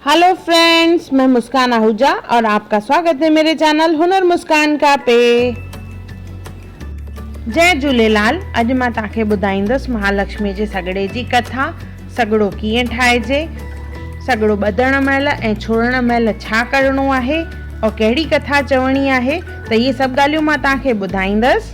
هلو friends مين مسڪان آهوجا اور آپ ڪا سواگت هي ميري چينل هنر مسڪان ڪا پي جي جهوليلال اڄ مان توهان کي ٻڌائيندس مهالڪشمي جي سڳڙي جي ڪٿا سڳڙو ڪيئن ٺاهجي سڳڙو ٻڌڻ مهل ۽ ڇوڙڻ مهل ڇا ڪرڻو آهي اور ڪهڙي ڪٿا چوڻي آهي ته اهي سڀ ڳالهيون مان توهان کي ٻڌائيندس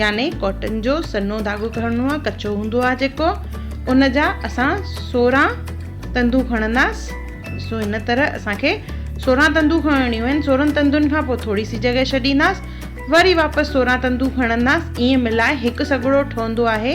يعني ڪاٽن جو سنهو ڌاڳو کڻڻو آهي ڪچو هوندو آهي جيڪو ان جا اسان سورهن تندون کڻنداس ڏسو هن طرح اسان کي سورهن تندون کڻڻيون آهن سورهن تندن کان پوء ٿوري سي جڳهه ڇڏينداس وري واپس سورهن تندون کڻنداس ائين ملائي هڪ سڳڙو ٺهندو آهي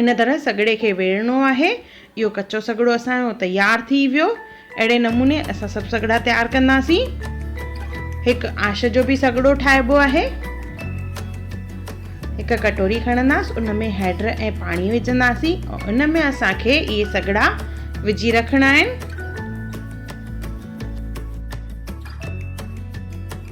ان طرح سڳڙي کي ويڙهڻو آهي. اهو ڪچو سڳڙو اسان جو تيار ٿي ويو. اهڙي نموني اسان سڀ سڳڙا تيار ڪنداسين. هڪ آش جو به سڳڙو ٺاهبو آهي. هڪ ڪٽوري کڻنداس ان ۾ هيڊر ۽ پاڻي وجهنداسين ۽ ان ۾ اسان کي اهي سڳڙا وجهي رکڻا آهن.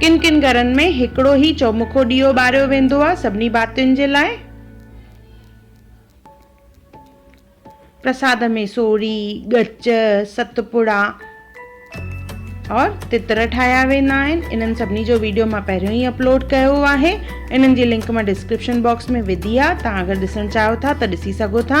ڪن ڪن گهرن ۾ هڪڙو ئي چؤمکو ڏيئو ٻاريو ويندو آهي سڀني ڀاتين جي لاء. پرساد ۾ سوڙهي، ڳچ، ست پڙا اور تتر ٺاهيا ويندا آهن. انهن سڀني جو ويڊيو مان پهريون ئي اپلوڊ ڪيو آهي. انهن جي لنڪ مان ڊسڪرپشن باڪس ۾ وڌي آهي. توهان اگر ڏسڻ چاهيو ٿا ته ڏسي سگهو ٿا.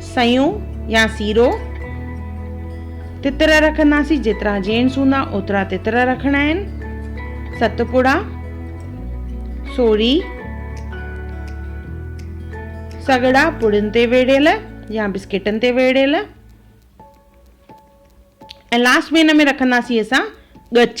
سيون يا سيرو، تتر رکنداسين جيترا جينٽس هوندا اوترا تتر رکڻا آهن، ست پڙا، سوري، سڳڙا پڙن تي ويڙهيل يا بسڪيٽن تي ويڙهيل ۽ لاسٽ ۾ هن ۾ رکنداسين اسان ڳچ،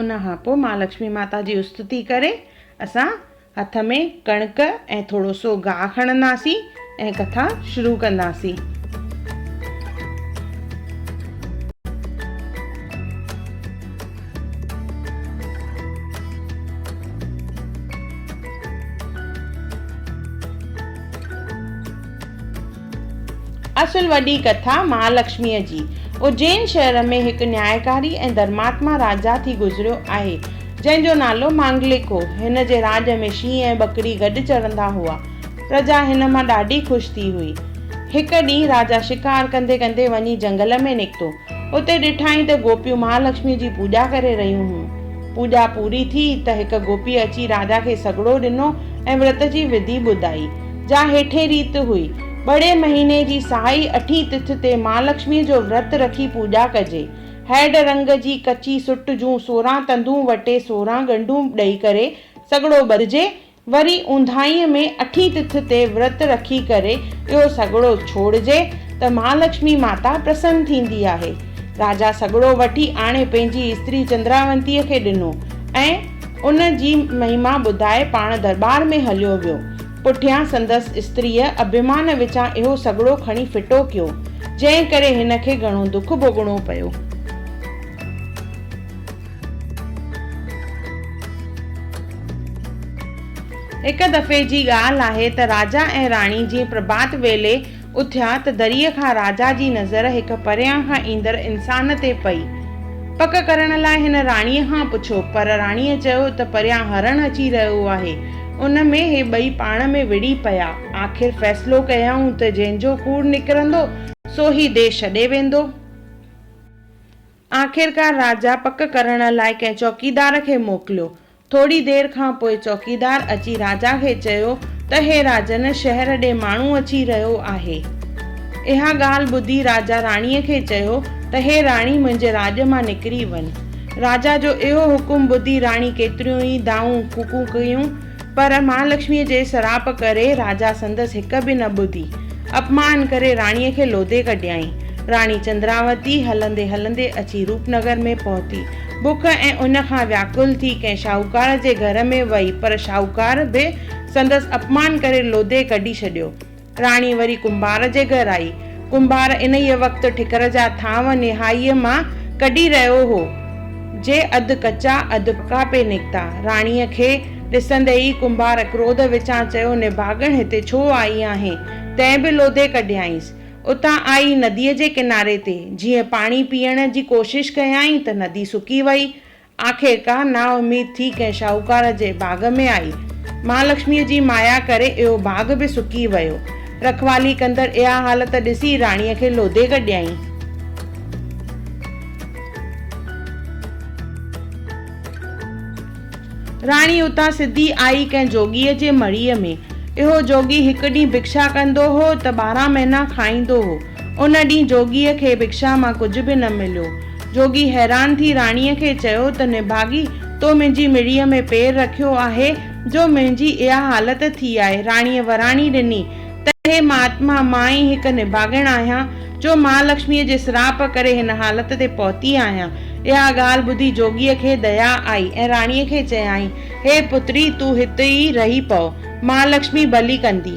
ان کان پوء مان لڪشمي ماتا جي استتي ڪري اسان هٿ ۾ ڪڻڪ ۽ ٿورو سو گاهه کڻنداسين ۽ ڪٿا شروع ڪنداسين اصل وڏي ڪٿا مهالڪشميء جي اجين شهر ۾ هڪ نيائڪاري ۽ ڌرماتما راجا ٿي گذريو آهي، جنهن جو نالو مانگلڪ هو. هن جي راڄ ۾ شينهن ۽ ٻڪري گڏ چرندا هئا. پرجا هن مان ڏاڍي خوش ٿي هئي. هڪ ڏينهن راجا شڪار ڪندي ڪندي وڃي جهنگل ۾ نڪتو. اتي ڏٺائين ته گوپيون مهالڪشميء جي پوڄا ڪري رهيون هيون. پوڄا پوري ٿي ته هڪ گوپيء اچي راجا کي سڳڙو ڏنو ۽ ورت جي وڌي ٻڌائي، جا هيٺين ريت هئي، ٻڙي مهيني جي سهائي اٺين تٿ تي مهالڪشميء جو ورت رکي پوڄا ڪجي. هئڊ رنگ جي ڪچي سٽ جون سورهن تندون وٽي سورهن ڳنڍون ڏئي ڪري سڳڙو ٻرجي وري اونداهيء ۾ اٺين تٿ تي ورت رکي ڪري اهو سڳڙو ڇوڙجي ته مهالڪشمي ماتا پرسن ٿيندي آهي. راجا سڳڙو وٺي آڻي پنهنجي استري چندراونتيء کي ڏنو ۽ ان جي مهما ٻڌائي پاڻ درٻار ۾ هليو ويو. پٺيان سندس استريء اڀيمان وچان اهو سڳڙو کڻي ڦٽو ڪيو، جنهن ڪري هن کي گهڻو دک ڀوڳڻو پيو. هڪ دفعي جي ڳالهه آهي ته راجا ۽ راڻي جيئن پرڀات ويلي اٿيا ته دريء کان راجا جي نظر هڪ پريان کان ايندڙ انسان تي پئي. پڪ ڪرڻ لاء هن راڻيء کان پڇيو، پر راڻيء چيو ته پريان هرڻ اچي رهيو آهي. ان ۾ هي ٻئي پاڻ ۾ وڙهي پيا. آخر فيصلو ڪيائون ته جنهن جو ڪوڙ نڪرندو، سو هي ديس ڇڏي ويندو. آخرڪار راجا پڪ ڪرڻ لاء ڪنهن چوڪيدار کي موڪليو. ٿوري دير کان پوء چوڪيدار اچي راجا کي چيو ته هي راجن شهر ڏي ماڻهو اچي رهيو آهي. اها ڳالهه ٻڌي راجا راڻيء کي چيو ته هي راڻي منهنجي راڄ مان نڪري وڃ. راجا جو اهو حڪم ٻڌي راڻي ڪيتريون ئي دانهون ڦوڪون ڪيون پر مهالڪشميء جي سراپ ڪري راجا سندس هڪ به نه ٻڌي. اپمان ڪري راڻيء کي لوڌي ڪڍيائين. راڻي چندراوتي هلندي هلندي اچي روپنگر ۾ پهتي. بک ۽ اڃ کان وياڪل ٿي ڪنهن شاهوڪار جي گهر ۾ وئي پر شاهوڪار به سندس اپمان ڪري لوڌي ڪڍي ڇڏيو. راڻي وري ڪنڀار جي گهر آئي. ڪنڀار انهيء وقت ٺڪر جا ٿانو نهائيء مان ڪڍي رهيو هو، جي اڌ ڪچا اڌ پڪا پئي نڪتا. راڻيء کي ڏسندي ئي ڪنڀار ڪروڌ وچان چيو، نڀاڳڻ هتي ڇو آئي آهين؟ تنهن به لوڌي ڪڍيائينس. اتان آئي نديء جي ڪناري تي جيئن پاڻي پيئڻ جي ڪوشش ڪيائين ته ندي سڪي وئي. آخرڪار نااميد ٿي ڪنهن شاهوڪار جي باغ ۾ آئي. مهالڪشميء جي مايا ڪري اهو باغ به سڪي ويو. رکوالي ڪندڙ اها حالت ڏسي راڻيء کي لوڌي ڪڍيائين. راڻي اتان سڌي آئي ڪنهن جوڳيء جي مڙهيء ۾. اهو جوڳي هڪ ڏينهن ڀڪشا ڪندو هو ته ٻارهن مهينا کائيندو هو. ان ڏينهن جوڳيء کي ڀڪشا مان ڪجهه به نه مليو. جوڳي حيران ٿي راڻيء کي چيو ته نڀاڳي، تو منهنجي مڙيء ۾ پير رکيو آهي، جو منهنجي اها حالت ٿي آهي. راڻيء وراڻي ڏني ته هي مهاتما، مان ئي هڪ نڀاڳڻ آهيان، جو مهالڪشميء جي سراپ ڪري هن حالت تي پهتي آهيان. اها ڳالهه ٻڌي جوڳيء کي ديا آئي ۽ راڻيء کي چيائين، هي پتڙي، تون هت ئي رهي پؤ، مهالڪشمي ڀلي ڪندي.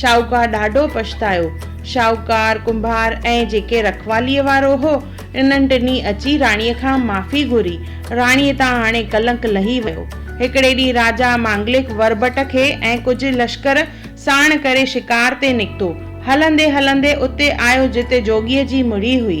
شاهوڪار ڏاڍو پڇتايو. شاهوڪار، ڪنڀار ۽ جيڪي رکواليء وارو هو، انهن ٽنهي اچي راڻيء کان معافي گهري. راڻيء تان هاڻي ڪلنڪ لهي ويو. هڪڙي ڏينهن راجا مانگلڪ وربٽ کي ۽ ڪجهه لشڪر ساڻ ڪري شڪار تي نڪتو. هلندي هلندي اتي آيو جتي جوڳيء جي مڙهي هئي.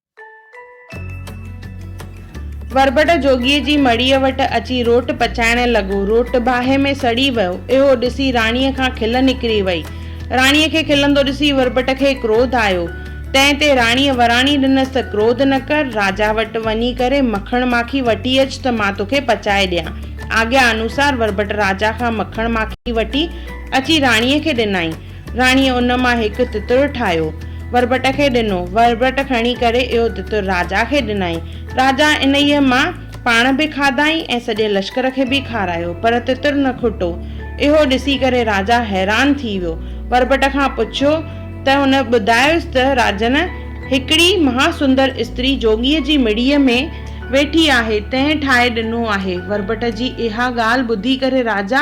وربٽ جوڳيء جي مڙيء وٽ اچي روٽ پچائڻ لڳو. روٽ باهه ۾ سڙي ويو. اهو ڏسي راڻيء کان کل نڪري وئي. راڻيء کي کلندو ڏسي وربٽ کي ڪروڌ آيو. تنهن تي راڻيء وراڻي ڏنس ته ڪروڌ نه ڪر، راجا وٽ وڃي ڪري مکڻ ماکي وٺي اچ ته مان توکي پچائي ڏيان. آگيا انوسار وربٽ راجا کان مکڻ ماکي وٺي اچي راڻيء کي ڏنائين. راڻيء ان مان هڪ تتر ٺاهيو، وربٽ کي ڏنو. وربٽ کڻي ڪري اهو تتر راجا کي ڏنائين. راجا انهيء مان پاڻ به کاڌائين ۽ سڄي لشڪر کي به کارايو، پر تتر نه کٽو. اهو ڏسي ڪري راجا حيران ٿي ويو. وربٽ کان پڇيو ته هن ٻڌايس ته راجن، هڪڙي مها سندر استري جوڳيء جي مڙيء ۾ ويٺي آهي، تنهن ٺاهي ڏنو آهي. وربٽ جي اها ڳالهه ٻڌي ڪري راجا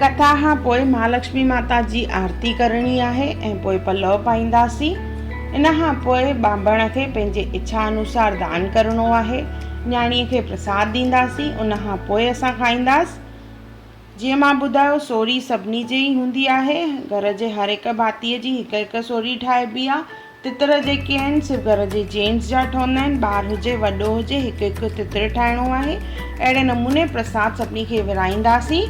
ڪٿا کان پوء مھالڪشمي ماتا جي آرتي ڪرڻي آھي ۽ پوء پلؤ پائينداسين. ان کان پوء ٻانڀڻ کي پنھنجي اڇا انوسار دان ڪرڻو آھي. نياڻيء کي پرساد ڏينداسين ان کان پوء اسان کائينداس. جيئن مان ٻڌايو سوري سڀني جي ئي ھوندي آھي. گھر جي ھر ھڪ ڀاتيء جي ھڪ ھڪ سوري ٺاھبي آ. تتر جيڪي آهن سو گهر جي جينٽس جا ٺهندا آهن، ٻار هجي وڏو هجي هڪ هڪ تتر ٺاهڻو آهي، اهڙي نموني پرساد سڀني کي ورهائينداسين.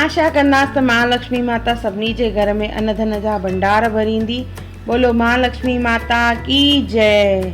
آشا ڪنداس ته مها لڪشمي ماتا سڀني جي گهر ۾ ان ڌن جا ڀنڊار ڀريندي، ٻولو مها لڪشمي ماتا ڪي جئه.